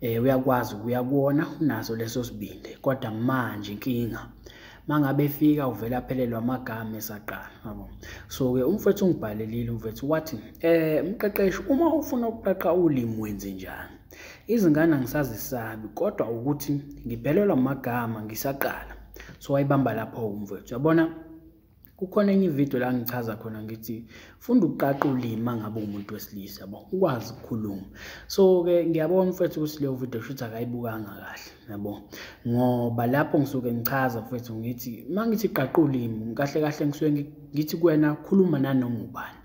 eh uyakwazi ukuya kuwona unaso leso sibindi kodwa manje inkinga mangabe efika uvele aphelelwa amagama esaqala yabo so ke umfethu ungibhalelile umfethu wathi eh umqeqeshi uma ufuna ukuqaqa ulimi wenze njani izingane angisazisabi kodwa ukuthi ngiphelelwa amagama ngisaqala so wayibamba lapho umfethu yabona kukhona enye ividiyo la ngichaza khona ngithi funda ukuqaqa ulimi mangabe umuntu wesilisa yabo ukwazi ukukhuluma so-ke ngiyabona mfethu ukuthi leyo vidiyo shuthi akayibukanga kahle yabo ngoba lapho ngisuke ngichaza mfethu ngithi uma ngithi qaqa ulimi kahle kahle ngisuke ngithi kwena khuluma nanoma ubani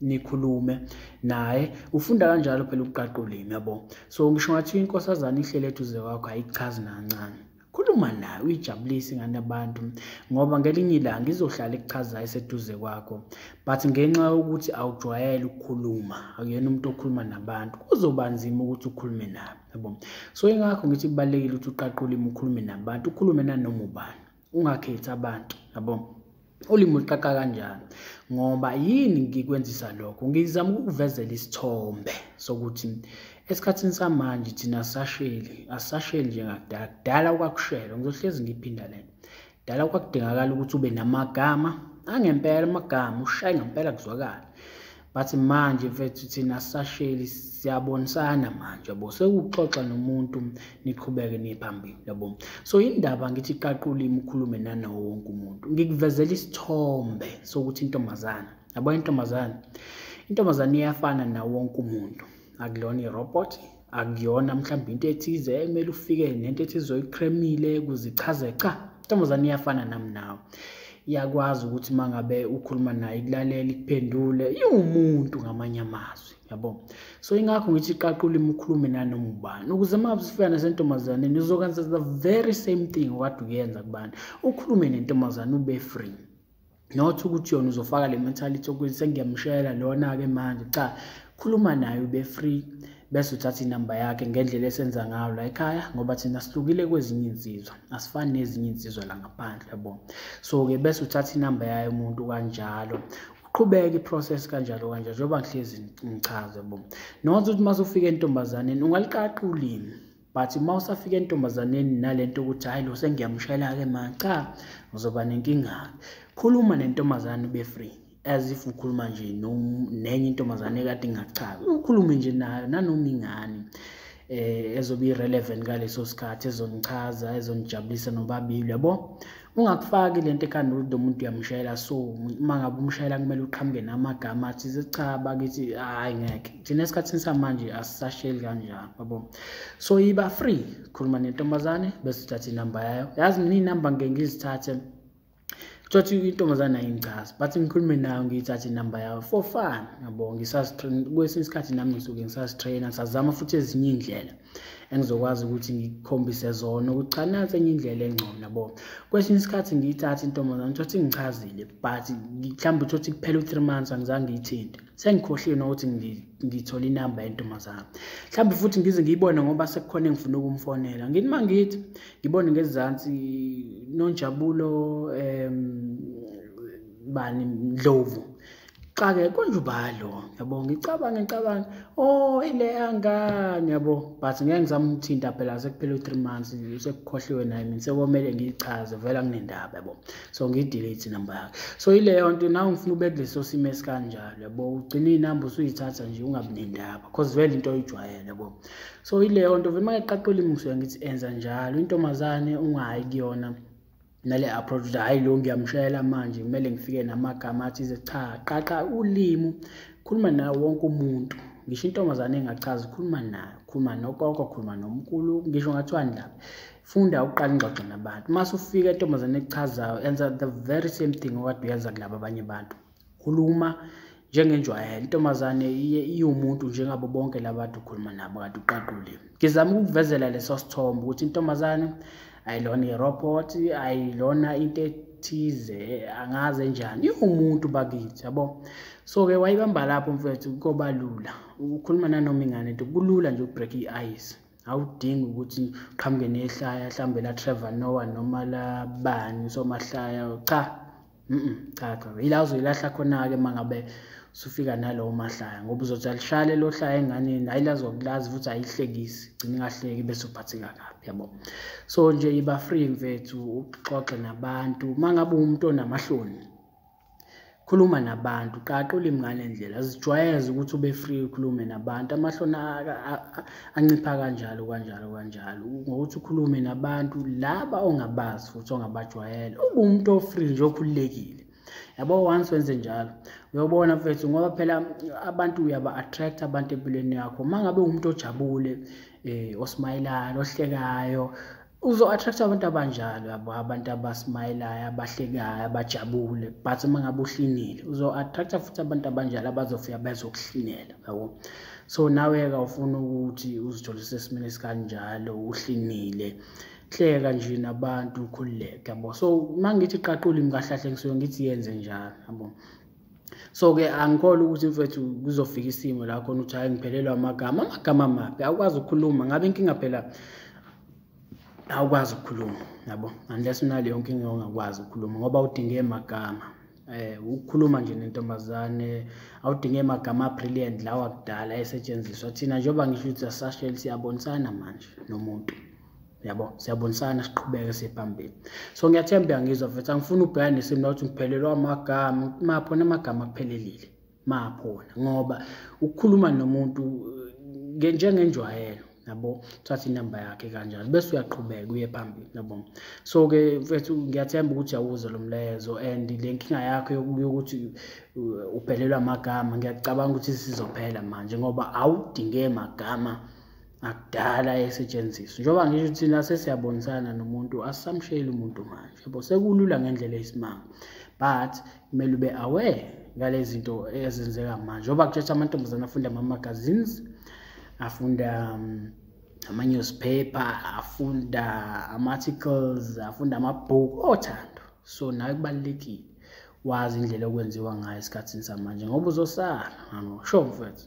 nikhulume naye ufunda kanjalo phela ukuqaqa ulimi yabo so ngisho ngathi inkosazana ihlele eduze kwakho ayichazi nancane khuluma naye uyijabulise ingane yabantu ngoba ngelinye ilanga izohlala ikuchazayo iseduze kwakho but ngenxa yokuthi awujwayele ukukhuluma akuyena umuntu okhuluma nabantu kuzoba nzima ukuthi ukhulume nabo yabo so ingakho ngithi kubalulekile ukuthi uqaqulime ukhulume nabantu ukhulume nanoma ubani ungakhethi abantu yabo ulimi uliqaqa kanjani ngoba yini ngikwenzisa lokho ngizama ukukuvezela isithombe sokuthi esikhathini samanje thina asasheli asasheli njengakudala kudala kwakushelwa ngizohlezi ngiphinda lena kudala kwakudingakala ukuthi ube namagama angempela amagama ushaye ngempela kuzwakala but manje mfethu thina sasheli siyabonisana manje yabo sekuxoxa nomuntu niqhubeke niphambili yabo so indaba ngithi qaqula imkhulume nanawo wonke umuntu ngikuvezela isithombe sokuthi intombazana yabo intombazana intombazana iyafana nawo wonke umuntu akulona irobot akuyona mhlawumbe into ethize ekumele ufike nento ethize oyiqhremile kuzichaze cha intombazane iyafana nami nawe iyakwazi ukuthi uma ngabe ukhuluma naye ikulalela ikuphendule iwumuntu ngamanye amazwi yabo so ingakho ngithi qaqula ulimi ukhulume nanoma ubani ukuze uma usifika nasentombazaneni uzokwenza the very same thing okade uyenza kubani ukhulume nentombazane ube free not ukuthi yona uzofaka le mentality ukuthi sengiyamshela lona-ke manje cha khuluma naye ube free bese uthatha inamba yakhe ngendlela esenza ngayo la ekhaya ngoba thina sihlukile kwezinye insizwa asifani nezinye insizwa la ngaphandle yabo so-ke bese uthatha inamba yayo umuntu kanjalo qhubeke iprocess kanjalo kanjalo njengoba ngihlezi ngichaze bo not ukuthi uma sufika entombazaneni ungaliqaqa ulimi but uma usafika entombazaneni nalento ukuthi hayi lo sengiyamshayela-ke ma cha uzoba nenkinga-ke khuluma nentombazane ube free as if ukhuluma nje nenye intombazane ekade ingachazi ukhulume nje nayo nanoma ingane eh ezobe irelevant ngaleso sikhathi ezonichaza ezonijabulisa nobabili yabo ungakufaki le nto ekhanda ukuthi lo muntu uyamshayela so uma ngabe umshayela kumele uqhamuke namagama athi cha bakithi hhayi ngeke thina esikhathini samanje asisasheli kanjalo yabo so yiba free khuluma nentombazane bese uthatha inamba yayo yazi mina iy'namba ngike ngizithathe thothi intombazane ayingichazi but ngikhulume nayo ngiyithathe inamba yayo for fun yabo ngisazitrain kwesinye isikhathi nami ngisuke ngisazitraina ngisazama futhi ezinye iy'ndlela engizokwazi ukuthi ngikhombise zona ukuthi cha nansi enye indlela engcono yabo kwesinye isikhathi ngiyithathe intombazane thothi ngichazile but mhlawumbe thothi kuphela u-three months angizange ngiyithinte sengikhohliwe nokuthi ngithole inamba yentombazane mhlawumbe futhi ngize ngiyibone ngoba sekukhona engifuna ukumfonela ngithi uma ngithi ngibone ngezansi nonjabulo um bani ndlovu xa-ke kunjubalo yabo ngicabange ngicabange o oh, ile yangane yabo but ngeke ngizamthinta phela sekuphela u-three months sekukhohliwe naye mina sekomele ngiyichaze vele anginendaba yabo so ngiyidelete inamba yakhe so ileyo nto nawe ngifuna ube kuleso simo esikanjalo yabo ugcine inamba usuyithatha nje ungabi nendaba cause vele into oyijwayele yabo so ileyo nto vele uma ngiqaqula imusuya ngithi enza njalo intombazane ungayi kuyona nale approach ukuthi hhayi lo ngiyamshayela manje kumele ngifike namagama athize cha qaqa ulimi khuluma nawo wonke umuntu ngisho intombazane engachazi khuluma nayo khuluma nokoko khuluma nomkhulu ngisho ngathiwani lapha funda uqala ingxoxo nabantu uma sufika entombazane ekuchazayo enza the very same thing okade uyenza kulaba abanye abantu khuluma njengenjwayelo intombazane iye iwumuntu njengabo bonke labantu ukhuluma nabo kade uqaqule ngizama ukukuvezela leso sithombe ukuthi intombazane ayilona irobot ayilona into ethize angaze njani iwumuntu bakithi yabo so-ke wayibamba lapho mfethu koba lula ukhuluma nanoma ingane nto kulula nje ukubreak i-ice awudingi ukuthi qhamuke nehlaya mhlawumbe la Trevor Noah noma la bani somahlaya cha mhm cha cha ila uzoyilahla khona ke mangabe usufika nalowo mahlaya ngoba uzothi alishale lo hlaya enganeni ayilazokulazi futhi ayihlekisi gcina ingahleki bese uphatheka kabi yabo so nje iba free mfethu uxoxe nabantu mangabe umuntu onamahloni khuluma nabantu qaqa ulimi ngale ndlela zijwayeze ukuthi ube free ukhulume nabantu amahloni ancipha kanjalo kanjalo kanjalo ngokuthi ukhulume nabantu laba ongabazi futhi ongabajwayele ube umuntu ofree nje okhululekile yabo once wenze njalo uyobona mfethu ngoba phela abantu uyaba-attract abantu empilweni yakho uma ngabe uwumuntu ojabule um eh, osmayelayo ohlekayo uzo-attract abantu abanjalo yabo abantu abasmayelayo abahlekayo abajabule but uma ngabe uhlinile uzo-attracta futhi abantu abanjalo abazofika bezokuhlinela yabo so nawe-ke ufuna ukuthi uzithole sesimeni esikanjalo uhlinile hleka nje nabantu ukhululeke yabo so uma ngithi qaqula imkahlahle ngisuke ngithi yenze njalo yabo so-ke angikholwa ukuthi mfethu kuzofika isimo la khona ukuthi hhayi ngiphelelwa amagama amagama maphi awukwazi ukukhuluma ngabe inkinga phela awukwazi ukukhuluma yabo unless unaleyo nkinga ongakwazi ukukhuluma ngoba udinge magama eh ukukhuluma nje nentombazane awudinge amagama brilliant lawa kudala esetshenziswa thina njengoba ngisho ukuthi asasheli siyabonisana manje nomuntu yabo siyabonisana siqhubeke siphambili so ngiyathemba uyangizwa mfethu angifuni ubheka nesimo nokuthi ngiphelelwa amagama maphona amagama akuphelelile maphona ngoba ukukhuluma nomuntu eh, njengenjwayelo yabo thatha inamba yakhe kanjalo bese uyaqhubeka uye phambili yabo so ke mfethu ngiyathemba ukuthi yawuze lo mlezo and le nkinga yakho yokuthi uh, uphelelwa amagama ngiyacabanga ukuthi sizophela manje ngoba awudinge magama ngakudala esetshenziswa njengoba ngisho ukuthi thina sesiyabonisana nomuntu asisamshayeli umuntu manje yabo sekulula ngendlela eyisimanga but kumele ube aware ngale zinto ezenzeka manje ngoba kutshetsha amantombazane afunda ama-magazines afunda um, ama-newspaper afunda ama-articles afunda amabhuku othando so nawe kubalulekile wazi indlela okwenziwa ngayo esikhathini samanje ngoba uzosala ngangosho mfethu